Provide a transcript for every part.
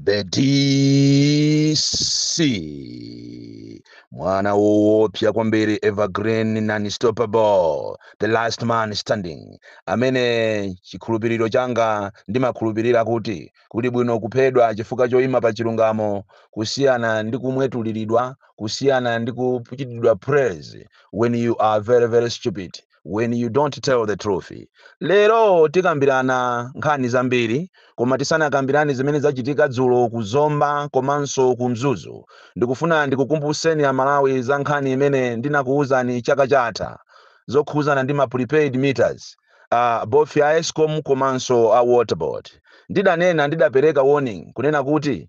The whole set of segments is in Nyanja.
the DC mwana woopsa kwambiri evergreen non-stoppable the last man standing amene chikhulupiriro changa ndimakhulupirira kuti kuli bwino kuphedwa chifukwa choyima pa chilungamo kusiyana ndi kumwetuliridwa kusiyana ndi kuchitidwa praise when you are very very stupid when you don't tell the truth lero tikambirana nkhani zambiri koma tisanakambirane zimene zachitika dzulo ku zomba komanso ku mzuzu ndikufuna ndikukumbuseni amalawi za nkhani imene ndinakuwuzani chaka chatha zokhuzana ndi ma prepaid meters uh, both ya escom komanso a waterboard ndidanena ndidapereka warning kunena kuti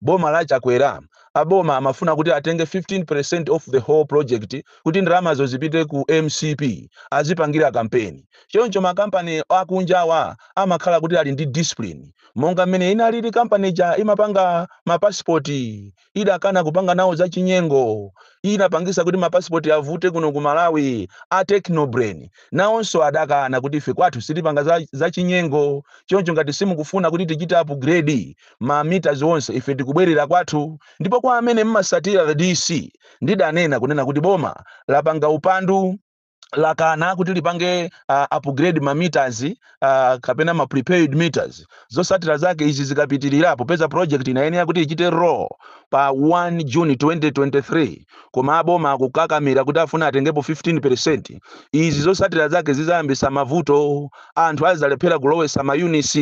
boma la chakwera aboma amafuna kuti atenge 15% of the whole project kuti ndalamazo zipite ku mcp azipangira kampeni choncho makampani akunjawa amakhala kuti ali ndi discipline monga mmene inalili kampani ija imapanga mapasipoti idakana kupanga nawo zachinyengo inapangisa kuti mapasipoti avute kuno ku malawi a technobrain nawonso adakana kuti ife kwathu sitipanga zachinyengo choncho ngati simukufuna kuti tichite upgrade ma meters onse ife tikubwerera kwathu ndipo kwa amene mmasatira the DC ndidanena kunena kuti boma lapanga upandu lakana kuti lipange uh, upgrade ma meters uh, kapena ma prepaid meters zosatira zake izi zikapitirira popeza project inayenera kuti ichite roll pa 1 June 2023 koma aboma akukakamira kuti afuna atengepo 15% izi zosatira zake zizayambisa mavuto anthu azalephera kulowesa ma units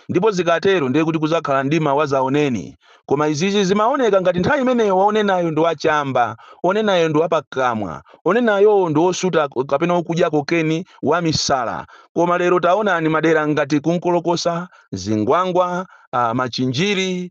ndipo zikatero ndiye kuti kuzakhala mdima wazaoneni koma izizi zimaoneka ngati nthawi imeneyo wonenayo ndi wachamba onenayo ndi wapakamwa onenayowo ndi wosuta kapena wokudya kokeni wamisala koma lero taonani madera ngati kunkolokosa zingwangwa ah, machinjiri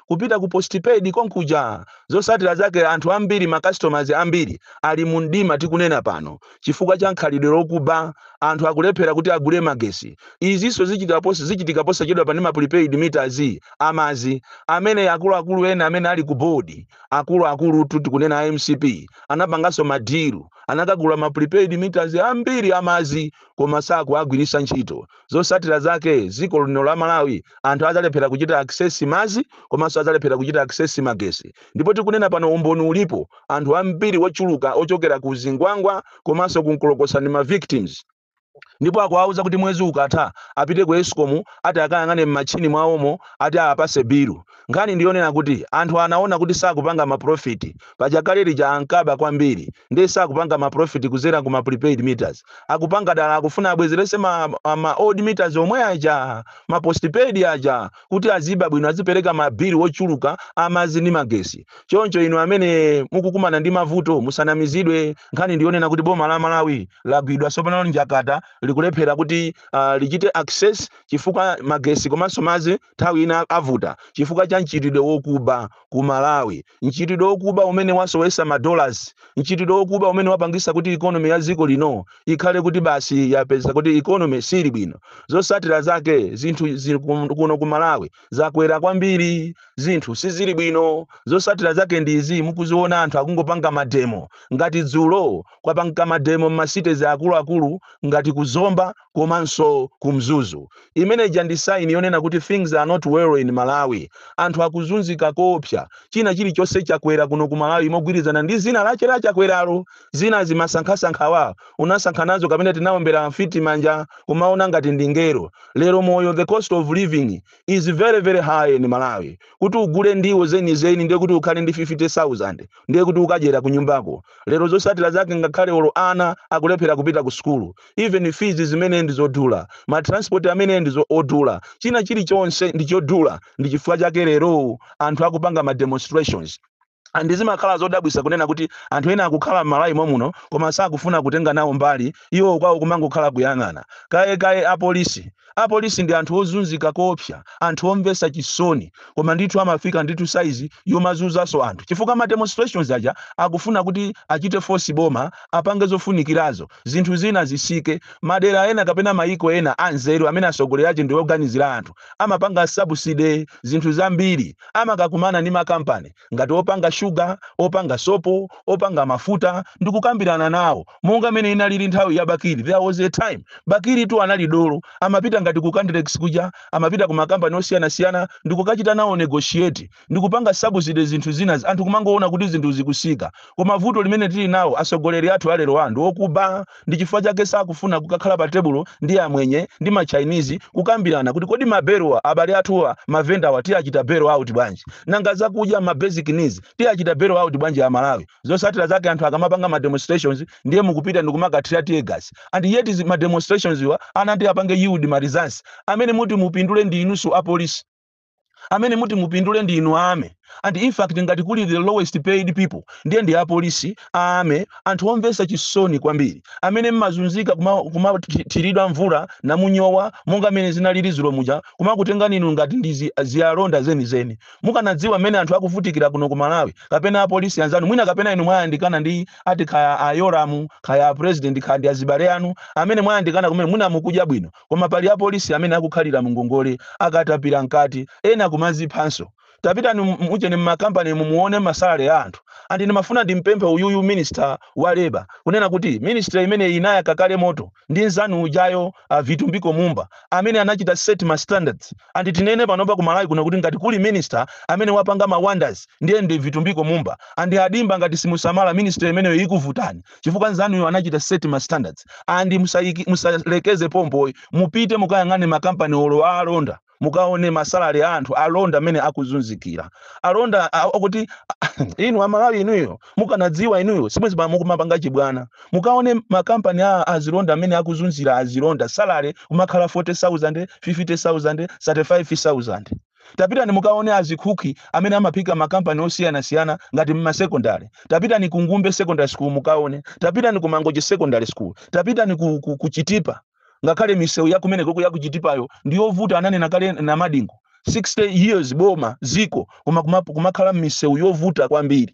kupita ku postpaid konkuja. Zosatira zake anthu ambiri ma customers ambiri ali mu mdima tikunena pano chifukwa cha khalidwe lokuba, anthu akulephera kuti agule magesi. Izinso zichitika posachedwapa ndi ma prepaid meters a madzi amene akuluakulu ena amene ali ku board akulu akulutu tikunena a mcp anapanganso ma deal anakagula ma prepaid meters ambiri a madzi koma sakuwagwiritsa ntchito. Zosatira zake ziko lino la Malawi anthu azalephera kuchita access mazi komaso azalephera kuchita access magesi ndipo tikunena pano umboni ulipo anthu ambiri ochuluka ochokera ku zingwangwa komaso ku nkolokosa ndi ma victims ndipo akuwauza kuti mwezi ukatha apite ku escom ati akayang'ane mmatchini mwawomo ati awapase bilu Nkhani ndi yonena kuti anthu anaona kuti sakupanga ma profit paja kale lija ankaba kwambiri nde sakupanga ma profit kuzera ku ma prepaid meters akupanga dala akufuna abwezerese ma ma old meters omwe aja ma postpaid aja kuti aziba bwino azipereka ma bill ochuluka amadzi ndi magesi choncho inu amene mukukumana ndi mavuto musanamizidwe nkhani ndi yonena kuti boma la Malawi lagwidwa sopano njakata likulephera kuti uh, lichite access chifukwa magesi komanso madzi nthawi ina avuta chifukwa cha mchitidwe wokuba ku Malawi. Mchitidwe wokuba umene wasowesa ma dollars, mchitidwe wokuba umene wapangisa kuti economy ya dziko lino ikhale kuti basi yapeza kuti economy sili bwino. Zosatira zake zinthu zi kum- kuno ku Malawi zakwera kwambiri, zinthu sizili bwino. Zosatira zake ndi izi mukuziona anthu akungopanga mademo ngati dzulo kwapanga mademo mma cities akuluakulu ngati ku Zomba komanso ku Mzuzu. Imene ija ndi sign yonena kuti things are not well in Malawi. Anthu akuzunzika koopsa. China chilichonse chakwera kuno ku Malawi mogwirizana ndi dzina lache la Chakweralo. Zinazi masankhasankhawa tinasankha nazo kapena tinaombera mfiti manja kumaona ngati ndi mngelo. Lero moyo the cost of living is very very high in Malawi. Kuti ugule ndiwo zenizeni ndiye kuti ukhale ndi 50,000 ndiye kuti ukadyera kunyumbako. Lero zosatira zake ngakhale olo ana akulephera kupita ku sukulu. even fees zimenezi ndi zodula, ma transport amene ndi odula, china chilichonse ndi chodula, ndi chifukwa chake lero anthu akupanga ma demonstrations. And zimakhala zodabwisa kunena kuti anthu ena akukhala m'Malawi momuno koma sakufuna kutenga nawo mbali, iwo kwawo kumangokhala kuyang'ana. Kaye kaye apolisi Apolisi ndi anthu ozunzika koopsa, anthu omvesa chisoni. Koma ndithu amafika ndithu size yomazuzaso anthu chifukwa ma demonstrations aja akufuna kuti achite force boma apange zofunikirazo zinthu zina zisike. Madera ena kapena mayiko ena anzeru amene asogoleri ache ndioganizira anthu amapanga subsidy zinthu zambiri. Amakakumana ndi ma company. ngati opanga shuga, opanga sopo, opanga mafuta, ndikukambirana nawo monga mene inalili nthawi ya Bakili. There was a time Bakili tu anali dolo, amapita ngati ku Candlex kuja, amapita ku makampani osiyanasiyana ndikukachita nawo negotiate, ndikupanga subsidy zinthu zina, anthu kumangoona kuti zinthu zikusika. Koma vuto limene tili nawo asogoleri athu alerowa ndi okuba, Ndi chifukwa chake sakufuna kukakhala pa tebulo ndi amwenye ndi ma Chinese kukambirana kuti kodi mabelo a abale athuwa ma vendor wa tiachita bail out bwanji? Nanga zakudya ma basic needs tiachita bail out bwanji a Malawi? Zosatira zake anthu akamapanga ma demonstrations ndiye mukupita ndikumakathira teargas and yet ma demonstrations wa anati apange yield ma results amene muti mupindule ndi inunso apolisi. amene muti mupindule ndi inu ayi and in fact ngati kuli the lowest paid people ndiye ndi apolisi amene anthu omvesa chisoni kwambiri amene mmazunzika kumathiridwa kuma mvula namunyowa monga mmene zinalili zulo muja kumakutengani inu ngati ndi zi- azilonda zenizeni mukanadziwa mmene anthu akuvutikira kuno ku malawi kapena apolisi anzanu mwina kapena inu mwayandikana ndi ati kaya a Yolamu kaya apresident kaya ndi azibale anu amene mwayandikana kumene mwina mukudya bwino Koma pali apolisi amene akukhalira mungongole akatapira mkati, ena kumaziphanso. Tapitani mu ujeni mma company mu muone ma salary a anthu. And ndimafuna ndimpemphe uyuyu minister wa labour kunena kuti ministry imeneyi inayaka kale moto ndi nzanu ujayo a Vitumbiko Mumba amene anachita set ma standards and tinene panopa ku Malawi kuno kuti ngati kuli minister amene wapanga ma wonders ndiye ndi Vitumbiko Mumba and a Dimba ngati simusamala ministry imeneyo ikuvutani chifukwa nzanuyo anachita set ma standards and musaiki, musalekeze pompo ayi mupite mukayang'ane ma company olo a alonda mukaone ma salary a anthu alonda mmene akuzunzikira alonda a- akuti inu amalawi inuyo mukanadziwa inuyo sibwenzi pano mukumapanga chibwana mukaone ma company a azilonda mmene akuzunzira azilonda salary kumakhala 40000 50000 35000 Tapitani mukaone azikhukhi amene amaphika ma company osiyana siyana ngati mma secondary. Tapitani ku Ngumbe secondary school mukaone. Tapitani ku Mangochi secondary school. Tapitani ku ku ku Chitipa ngakhale misewu ya kumenekoko ya ku Chitipayo ndi yovuta ananena kale Namadingo. 60 years boma, dziko koma kumakhala mmisewu yovuta kwambiri.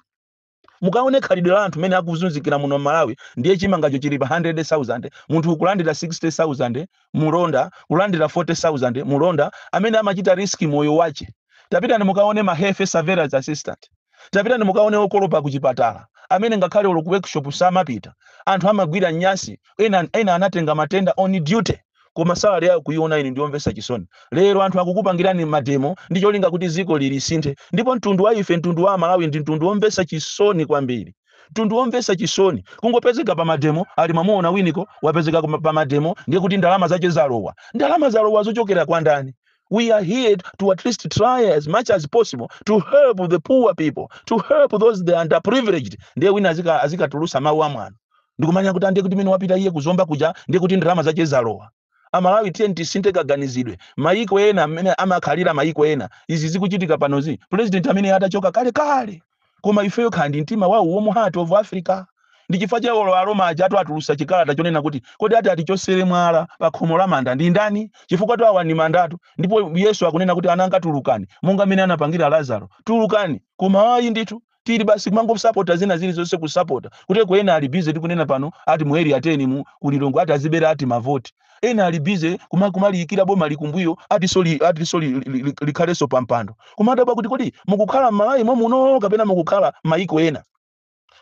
mukaone khalidwe la anthu mmene akuzunzikira muno Malawi ndiye chimangacho chili pa 100,000 munthu kulandira 60,000 mulonda kulandira 40,000 mulonda amene amachita risk moyo wache tapitani mukaone ma health surveillance assistant tapitani mukaone okolopa ku chipatala amene ngakhale olo ku workshop samapita anthu amagwira nyasi ena, ena anatenga matenda on duty koma salary yake kuiona inu ndiyomvesa chisoni lero anthu akukupangirani mademo ndi cholinga kuti ziko lili lisinthe ndipo mtundu wa ife mtundu wa amalawi ndi mtundu womvesa chisoni kwambiri mtundu womvesa chisoni kungopezeka pa mademo ati mwamuona winiko wapezeka kuma- pa mademo ndiye kuti ndalama zache zalowa ndalama zalowa zochokera kwa ndani we are here to at least try as much as possible to help the poor people to help those the underprivileged ndiye wina azika- azikatulusa mawu amwano ndikumanena kuti a ndiye kuti mmene wapita iye kuzomba kuja ndiye kuti ndalama zache zalowa amalawi tiyeni tisinthe kaganizidwe mayiko ena mmene amakhalira mayiko ena izi zikuchitika panozi president amene atachoka kale kale koma ifeyo kukhala ndi mtima wa warm heart of africa ndi chifukwa cha olo aroma ajatu atulusa chikalata chonena kuti kodi ati atichosere mwala pa khomo la manda ndi ndani chifukwatu awa ndi mandatu ndipo yesu akunena kuti ana anga tulukani monga mmene anapangira lazaro tulukani koma ayi ndithu tili basi kumangosapota zina zilizonse kusapota kuti ena ali busy tikunena pano ati mu area 10 mu ku Lilongwe ati aziberana ati mavoti Ena ali busy kuma kumaliyikira boma kumbuyo atinso li, atinso li, li, li, li, likhalenso pa mpando. Kumadabwa kuti kodi mukukhala m'Malawi momuno kapena mukukhala mayiko ena?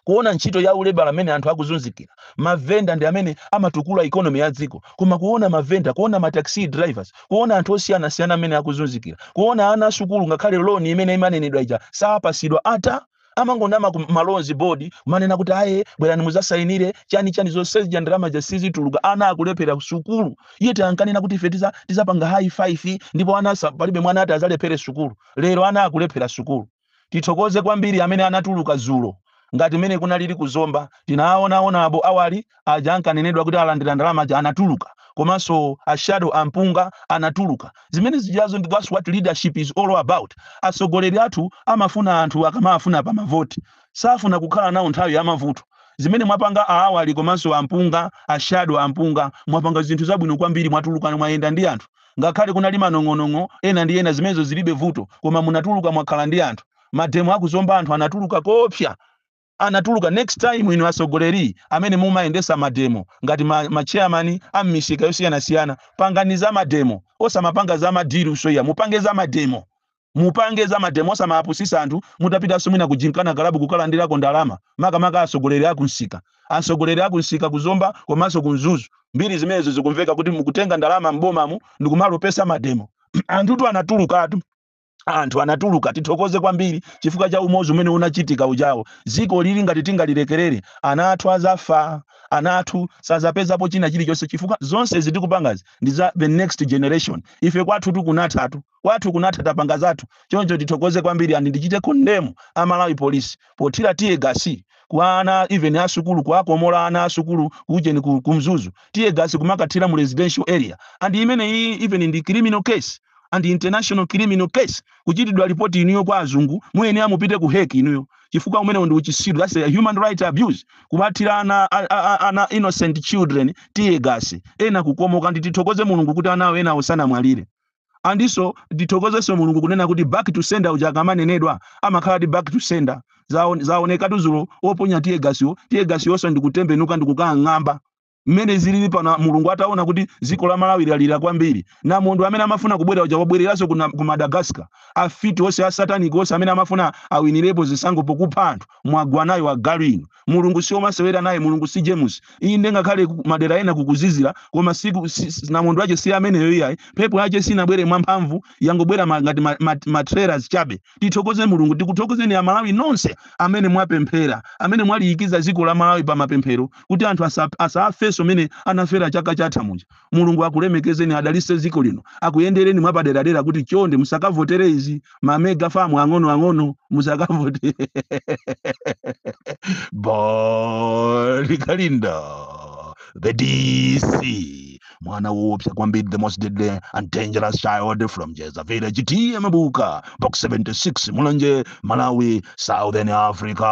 Kuona ntchito ya ulebala m'mene anthu akuzunzikira, mavenda ndi amene amatukula economy ya dziko, koma kuona mavenda, kuona ma taxi drivers, kuona anthu osiyanasiyana m'mene akuzunzikira, kuona ana asukulu ngakhale loan imene imanenedwa ija sapasidwa ata! amangonama ku ma loans board kumanena kuti aye bwerani muzasainire chani chani zonse zija ndalama zija sizituluka ana akulephera sukulu iyeyotu ankanena kuti ife tiza tizapanga high five ndipo ana asa- palibe mwana ati azalephere sukulu lero ana akulephera sukulu tithokoze kwambiri amene anatuluka zulo ngati mmene kunalili ku Zomba tinawaona a Bon awali aja ankanenedwa kuti alandira ndalama aja anatuluka komanso a shadow MP anatuluka zimene zijazo ndi that's what leadership is all about atsogoleri athu amafuna anthu akamafuna pa mavoti safuna kukhala nawo nthawi ya mavuto zimene mwapanga aawali komanso ampunga ashado ampunga mwapanga zinthu zabwino kwambiri mwatuluka mwayenda ndi anthu ngakhale kunali manong'onong'o ena ndi ena zimenezo zilibe vuto koma munatuluka mwakhala ndi anthu mademo aku Zomba anthu anatuluka koopsa anatuluka next time inu asogoleli amene mumayendesa mademo ngati ma, ma chairman a mmisika yosiyanasiyana pangani za mademo osamapanga za madilu so ya mupange za mademo mupange za mademo osamapusisa anthu mutapita si munali kujinkana kalabu kukalandilako ndalama makamaka asogoleli akunsika asogoleli akunsika ku Zomba komanso ku Mzuzu mbiri zimenezo zikumveka kuti mukutenga ndalama m'bomamu ndikumalepheretsa mademo anthutu anatulukatu anthu anatuluka tithokoze kwambiri chifukwa cha umodzi umene unachitika ujawo dziko ili ngati tingalilekerere ana athu azafa ana athu sazapezapo china chilichonse chifukwa zonse zitikupangazi ndi za the next generation ife kwathutu kunathatu kwathu kunatha tapanga zathu choncho tithokoze kwambiri and ndichite condemn a Malawi police pothira tear gas kwa ana even a sukulu kuwakomola ana a sukulu kujeni ku, ku mzuzu tear gas kumakathira mu residential area and imeneyi even ndi criminal case and international criminal case kuchitidwa ripoti inuyo kwa azungu muyenera mupite ku Hague inuyo chifukwa umenewo ndi uchisiru that's a human right abuse kuwathira ana, a- a- a- ana innocent children tear gas ena kukomoka nditithokoze mulungu kuti anawo enawo sanamwalire and so ndithokozenso mulungu kunena kuti back to sender uja akamanenedwa amakhala ati back to sender Zaon- zaonekatu zulo oponya tiye gasiwo tiye gasiyonso ndikutembenuka ndikukang'amba mmene zilili pano mulungu ataona kuti dziko la malawi lalira kwambiri namondwe amene amafuna kubwera uja wabwereranso kuna- ku madagascar afiti onse asataniki onse amene amafuna awinirepo zisankho pokupha anthu mwagwa nayo agalu inu mulungu si omasewera naye mulungu si james inde ngakhale ku- madera ena kukuzizira koma siku si- si- namondwe wache si ameneyo iyayi mphepo yache sinabwere mwamphamvu yangobwera ma- ngati ma- ma- ma trailers chabe tithokoze mulungu tikuthokozeni amalawi nonse amene mwapemphera amene mwaliyikiza dziko la malawi pa mapemphero kuti anthu asa- asafenso mene anafera chaka chatha muja mulungu akulemekezeni adalise ziko lino akuyendereni mwapaderadera kuti chonde musakavotere izi mamega famu ang'ono ang'ono musakavote bon kalindo the dc mwana woopsa kwambiri the most deadly and dangerous child from jeza village ta mabuka box 76 mulanje malawi southern africa